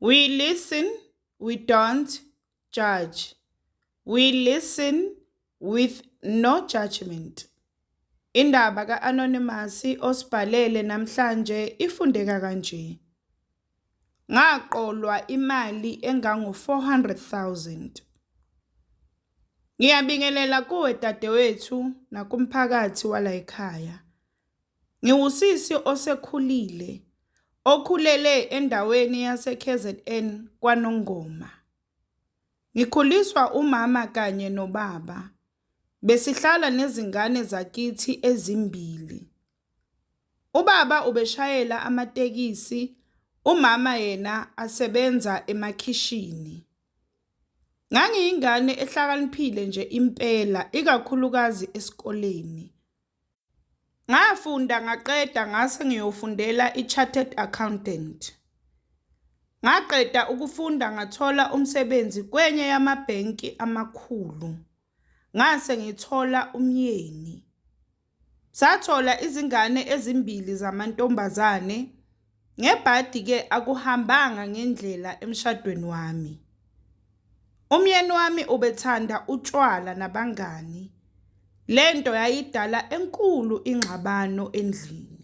We listen, we don't judge. We listen with no judgment. Indaba ka-Anonymous osibhalele namhlanje ifundeka kanje. Ngaqolwa imali engango-400,000. Ngiyabingelela kuwe dadewethu nakumphakathi walayikhaya. Ngiwusisi osekhulile okhulele endaweni yaseKZN KwaNongoma. Ngikhuliswa umama kanye nobaba. Besihlala nezingane zakithi ezimbili. Ubaba ubeshayela amatekisi, umama yena asebenza emakhishini. Ngangiyingane ehlakaniphile nje impela ikakhulukazi esikoleni. Ngafunda ngaqeda ngase ngiyofundela i-chartered accountant. Ngaqeda ukufunda ngathola umsebenzi kwenye yamabhenki amakhulu. Ngase ngithola umyeni. Sathola izingane ezimbili zamantombazane Ngebhadi ke akuhambanga ngendlela emshadweni wami. Umyeni wami ubethanda utshwala nabangani. Lento yayidala enkulu ingxabano endlini.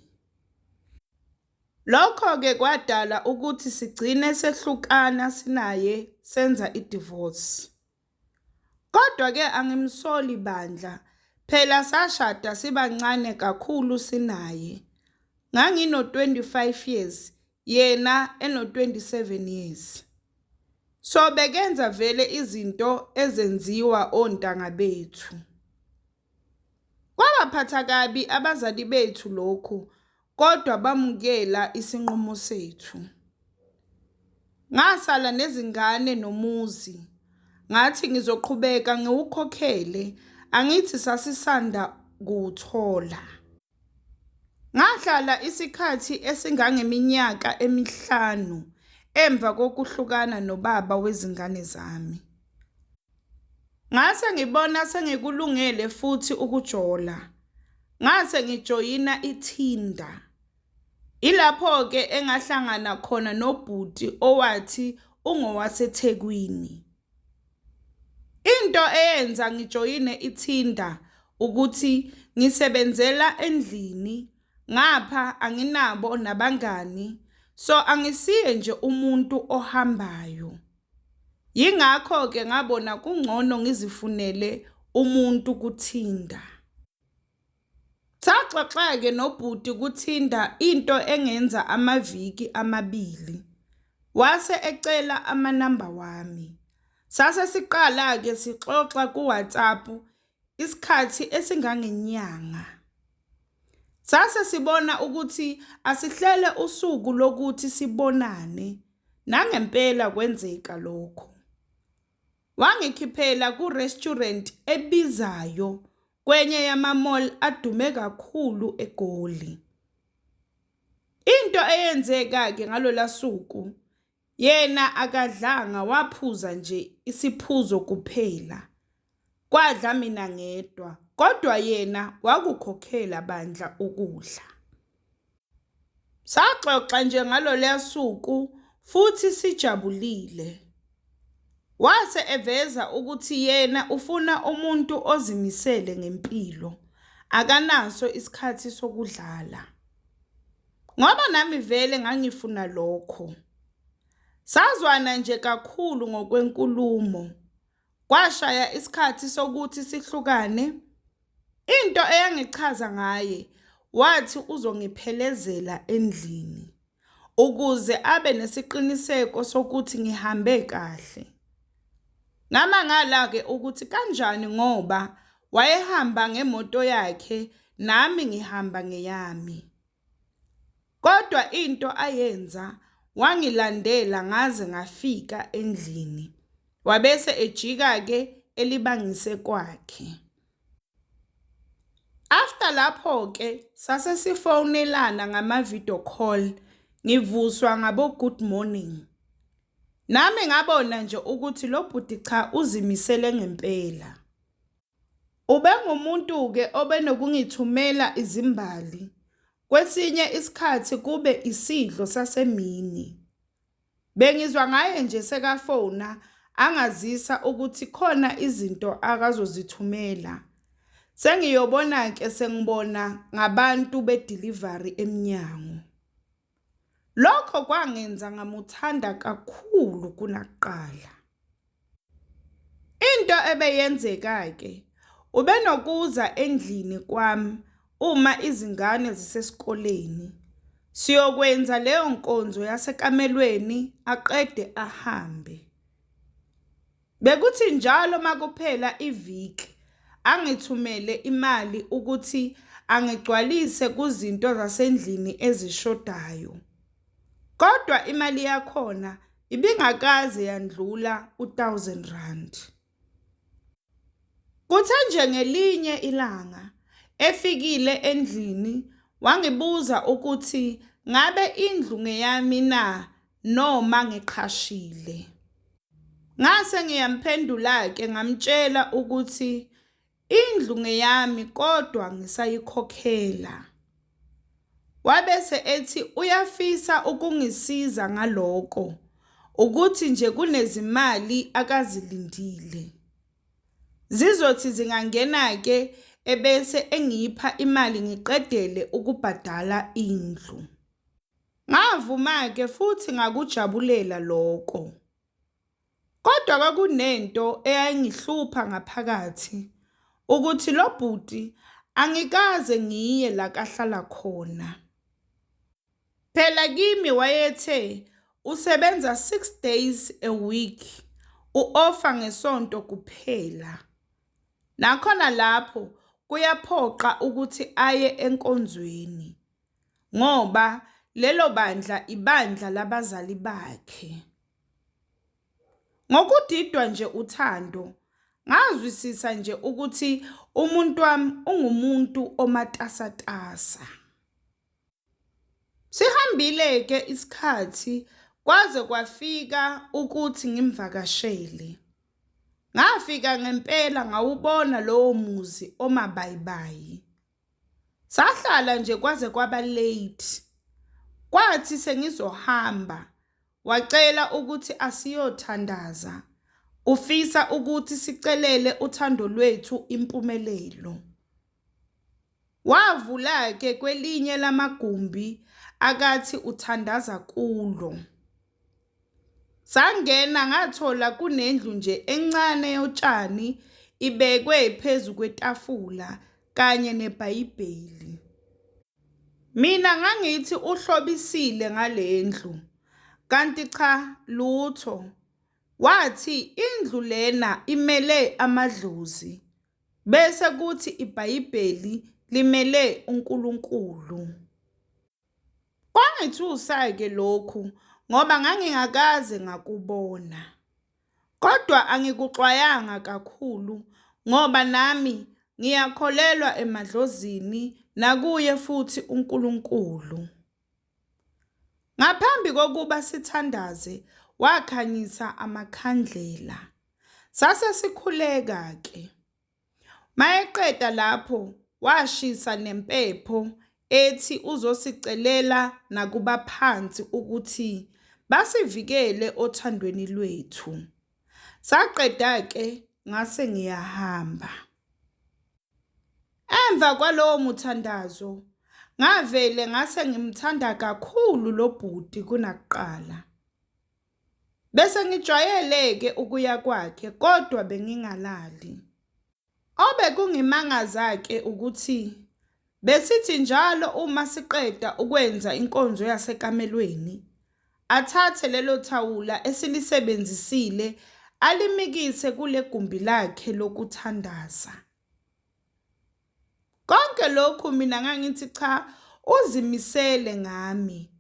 Lokho ke kwadala ukuthi sigcine sehlukana sinaye senza idivorce. Kodwa ke angimsoli bandla phela sashada sibancane kakhulu sinaye. Ngangino 25 years yena eno 27 years. So bekenza vele izinto ezenziwa ontanga bethu. Kwabaphatha kabi abazali bethu lokhu kodwa bamukela isinqumo sethu. Ngasala nezingane nomuzi, ngathi ngizoqhubeka ngiwukhokhele angithi sasisanda kuwuthola. Ngahlala isikhathi esingangeminyaka emihlanu emva kokuhlukana nobaba wezingane zami. Ngase ngibona sengikulungele futhi ukujola. Ngase ngijoyina ithinda. Ilapho-ke engahlangana khona nobhuti owathi ungowaseThekwini. Into eyenza ngijoyine iTinder ukuthi ngisebenzela endlini ngapha anginabo nabangani, so angisiye nje umuntu ohambayo. Yingakho-ke ngabona kungcono ngizifunele umuntu kuTinder. Saxoxa-ke nobhuti kuTinder into engenza amaviki amabili, wase ecela amanamba wami. Sase siqala-ke sixoxa ku-WhatsApp isikhathi esingangenyanga. Sase sibona ukuthi asihlele usuku lokuthi sibonane, nangempela kwenzeka lokho. Wangikhiphela ku-restaurant ebizayo kwenye yama-mall adume kakhulu eGoli. Into eyenzeka-ke ngalola suku, yena akadlanga waphuza nje isiphuzo kuphela. Kwadla mina ngedwa, kodwa yena wakukhokhela bandla ukudla. Saxoxa nje ngalolya suku futhi sijabulile. Wase eveza ukuthi yena ufuna umuntu ozimisele ngempilo, akanaso isikhathi sokudlala. Ngoba nami vele ngangifuna lokho. Sazwana nje kakhulu ngokwenkulumo. Kwashaya isikhathi sokuthi sihlukane. Into eyangichaza ngaye wathi uzongiphelezela endlini ukuze abe nesiqiniseko sokuthi ngihambe kahle. Ngamangala-ke ukuthi kanjani ngoba wayehamba ngemoto yakhe nami ngihamba ngeyami. Kodwa into ayenza wangilandela ngaze ngafika endlini. Wabese ejika ke elibangise kwakhe. After lapho ke sase sifonelana ngama video call ngivuswa ngabo good morning. Nami ngabona nje ukuthi lo bhuti cha uzimisele ngempela. Ubengumuntu-ke obenokungithumela izimbali, kwesinye isikhathi kube isidlo sasemini. Bengizwa ngaye nje sekafona angazisa ukuthi khona izinto akazozithumela. Sengiyobona-ke sengibona ngabantu bedilivari emnyango. Lokho kwangenza ngamuthanda kakhulu kunakuqala. Into ebeyenzeka-ke ubenokuza endlini kwami uma izingane zisesikoleni siyokwenza leyo nkonzo yasekamelweni aqede ahambe. Bekuthi njalo makuphela iviki angithumele imali ukuthi angigcwalise kuzinto zasendlini ezishodayo. Kodwa imali yakhona ibingakaze yandlula u-1000 rand. Kuthe nje ngelinye ilanga efikile endlini wangibuza ukuthi ngabe indlu ngeyami na noma ngiqhashile. Ngase ngiyamphendula-ke ngamtshela ukuthi indlu ngeyami kodwa ngisayikhokhela. Wabese ethi uyafisa ukungisiza ngaloko ukuthi nje kunezimali akazilindile. Zizothi zingangena-ke ebese engipha imali ngiqedele ukubhadala indlu. Ngavuma-ke futhi ngakujabulela lokho. Kodwa kwakunento eyayingihlupha ngaphakathi ukuthi lo bhuti angikaze ngiye la kahlala khona. Phela kimi wayethe usebenza six days a week, u-ofa ngesonto kuphela. Nakhona lapho kuyaphoqa ukuthi aye enkonzweni. ngoba lelo bandla ibandla labazali bakhe. Ngokudidwa nje uthando, ngazwisisa nje ukuthi umuntu wami ungumuntu omatasatasa. Sihambile-ke isikhathi kwaze kwafika ukuthi ngimvakashele. Ngafika ngempela ngawubona lowo muzi omabayibayi. Sahlala nje kwaze kwaba late. Kwathi sengizohamba wacela ukuthi asiyothandaza. Ufisa ukuthi sicelele uthando lwethu impumelelo. Wavula ke kwelinye lamagumbi akathi uthandaza kulo. Sangena ngathola kunendlu nje encane yotshani ibekwe phezu kwetafula kanye nebhayibheli. Mina ngangithi uhlobisile ngale ndlu, kanti cha lutho. Wathi indlu lena imele amadlozi bese kuthi ibhayibheli limele uNkulunkulu. Kwangithusa-ke lokhu ngoba ngangingakaze ngakubona, kodwa angikuxwayanga kakhulu ngoba nami ngiyakholelwa emadlozini nakuye futhi uNkulunkulu. Ngaphambi kokuba sithandaze wakhanyisa amakhandlela, sase sikhuleka-ke. Mayeqeda lapho washisa nempepho ethi uzosicelela nakubaphansi ukuthi basivikele othandweni lwethu. Saqeda-ke ngase ngiyahamba. Emva kwalowo muthandazo ngavele ngase ngimthanda kakhulu lo bhuti kunakuqala. Bese ngijwayele-ke ukuya kwakhe kodwa bengingalali. Obekungimangaza-ke ukuthi besithi njalo uma siqeda ukwenza inkonzo yasekamelweni, athathe lelo thawula esilisebenzisile alimikise kule gumbi lakhe lokuthandaza. Konke lokhu mina ngangithi cha uzimisele ngami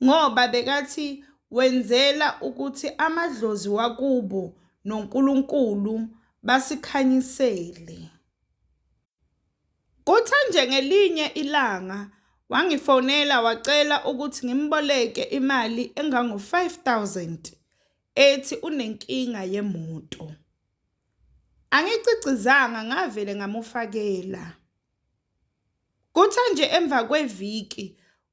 ngoba bekathi wenzela ukuthi amadlozi wakubo noNkulunkulu basikhanyisele. Kuthe nje ngelinye ilanga wangifonela wacela ukuthi ngimboleke imali engango-5000 ethi unenkinga yemoto. Angicicizanga ngavele ngamufakela. Kuthe nje emva kweviki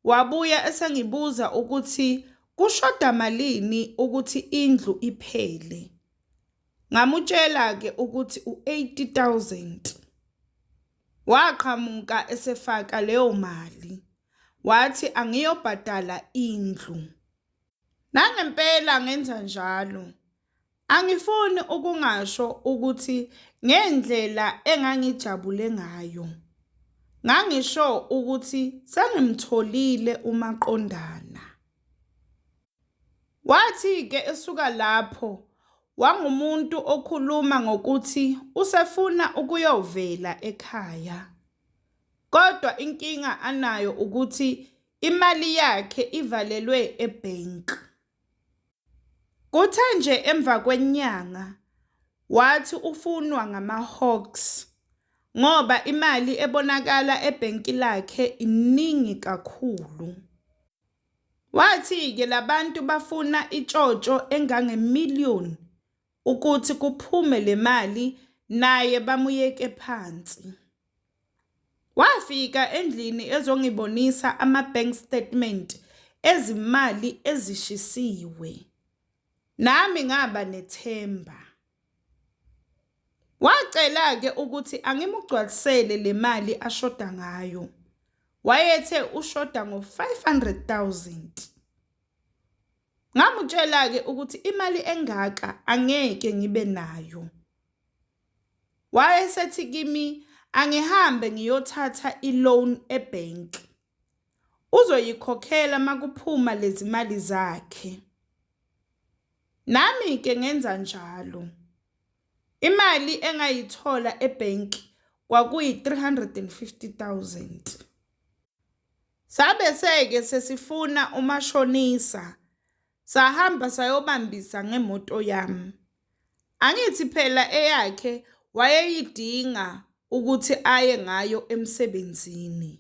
wabuya esengibuza ukuthi kushoda malini ukuthi indlu iphele. Ngamutshela-ke ukuthi u-80,000. Waqhamuka esefaka leyo mali, wathi angiyobhadala indlu. Nangempela ngenza njalo. Angifuni ukungasho ukuthi ngendlela engangijabule ngayo. Ngangisho ukuthi sengimtholile umaqondana. Wathi-ke esuka lapho wangumuntu okhuluma ngokuthi usefuna ukuyovela ekhaya. Kodwa inkinga anayo ukuthi Imali yakhe ivalelwe ebank. Kuthe nje emva kwenyanga wathi ufunwa ngama-hawks ngoba imali ebonakala ebhenki lakhe iningi kakhulu. Wathi-ke labantu bafuna itshotsho engange-million ukuthi kuphume le mali naye bamuyeke phansi. Wafika endlini ezongibonisa ama-bank statement ezimali ezishisiwe. Nami ngaba nethemba. Wacela-ke ukuthi angimugcwalisele le mali ashoda ngayo. Wayethe ushoda ngo-500 000. Ngamutshela-ke ukuthi imali engaka angeke ngibe nayo. Wayesethi kimi angihambe ngiyothatha i-loan e-bank. Uzoyikhokhela makuphuma lezi mali zakhe. Nami-ke ngenza njalo. Imali engayithola e-bank kwakuyi-350,000. Sabe seke sesifuna umashonisa sahamba sayobambisa ngemoto yami. Angithi phela eyakhe wayeyidinga ukuthi aye ngayo emsebenzini.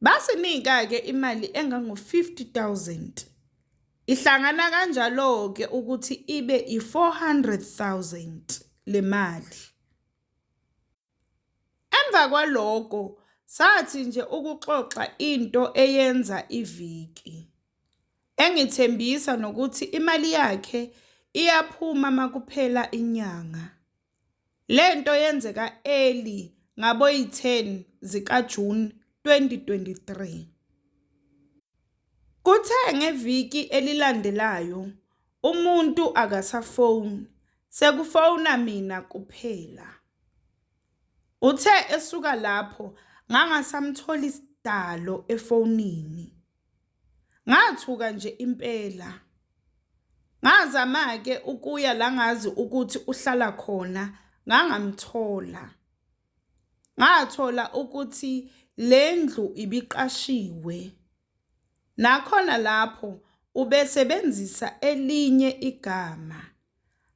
Basinika-ke imali engango-50,000. Ihlangana kanjalo-ke ukuthi ibe i-400,000 le mali. Emva kwaloko sathi nje ukuxoxa into eyenza iviki, engithembisa nokuthi imali yakhe iyaphuma makuphela inyanga. Lento yenzeka early ngaboyi 10 zika June 2023. Kuthe ngeviki elilandelayo umuntu akasafoni sekufona mina kuphela. Uthe esuka lapho ngangasamtholi sidalo efonini. Ngathuka nje impela. Ngazama-ke ukuya la ngazi ukuthi uhlala khona ngangamthola. Ngathola ukuthi le ndlu ibiqashiwe. Nakhona lapho ubesebenzisa elinye igama,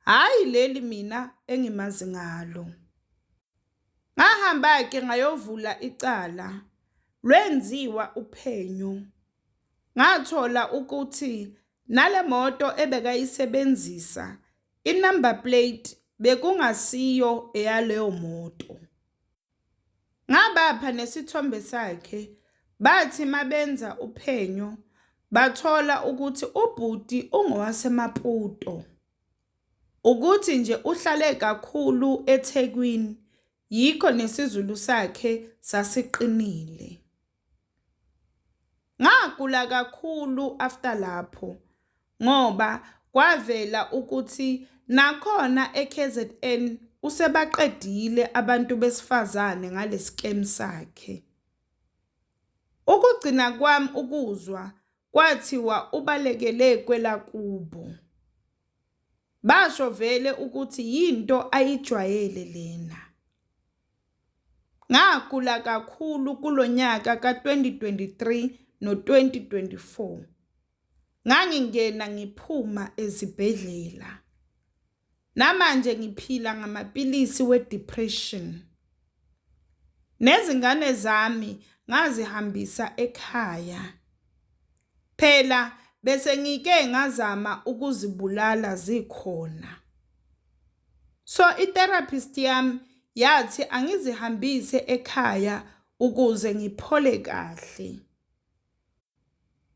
hhayi leli mina engimazi ngalo. Ngahamba-ke ngayovula icala, lwenziwa uphenyo. Ngathola ukuthi nale moto ebekayisebenzisa, i-number plate bekungasiyo eyaleyo moto. Ngabapha nesithombe sakhe bathi mabenza uphenyo bathola ukuthi ubhuti ungowaseMaputo. Ukuthi nje uhlale kakhulu eThekwini yikho nesiZulu sakhe sasiqinile. Ngagula kakhulu after lapho ngoba kwavela ukuthi nakhona e-K_Z_N usebaqedile abantu besifazane ngale scam sakhe. Ukugcina kwami ukuzwa kwathiwa ubalekele kwelakubo, basho vele ukuthi yinto ayijwayele lena. Ngagula kakhulu kulo nyaka ka-2023 no-2024. Ngangingena ngiphuma ezibhedlela. Namanje ngiphila ngamapilisi we-depression. Nezingane zami ngazihambisa ekhaya. Phela besengike ngazama ukuzibulala zikhona. So itherapist yami yathi angizihambise ekhaya ukuze ngiphole kahle.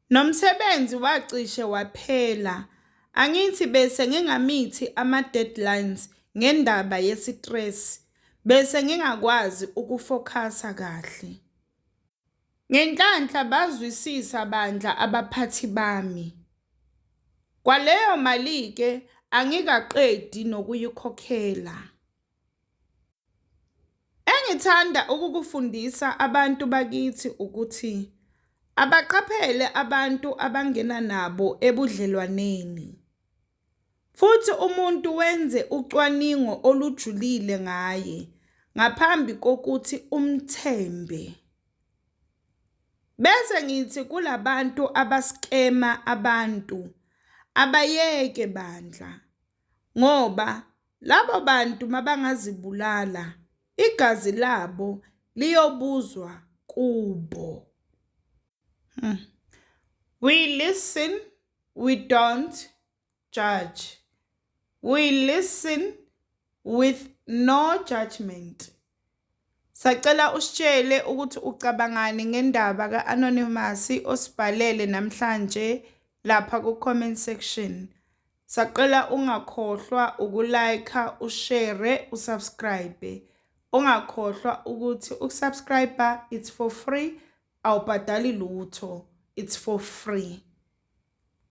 Nomsebenzi wacishe waphela. Angithi bese ngingamithi ama-deadlines ngendaba yesitresi bese ngingakwazi ukufokhasa kahle. Ngenhlanhla bazwisisa bandla abaphathi bami. Kwaleyo mali-ke angikaqedi nokuyikhokhela. Engithanda ukukufundisa abantu bakithi ukuthi abaqaphele abantu abangena nabo ebudlelwaneni. Futhi umuntu wenze ucwaningo olujulile ngaye ngaphambi kokuthi umthembe. Bese ngithi kulabantu abaskema abantu abayeke bandla ngoba labo bantu mabangazibulala igazi labo liyobuzwa kubo. Hmm. We listen we don't judge we listen with no judgment Sacela usitshele ukuthi ucabangani ngendaba ka-Anonymous osibhalele namhlanje lapha ku-comment section. Sacela ungakhohlwa ukulayikha, ushere, usubscribe. Ungakhohlwa ukuthi ukusubscribe it's for free, awubhadali lutho, it's for free.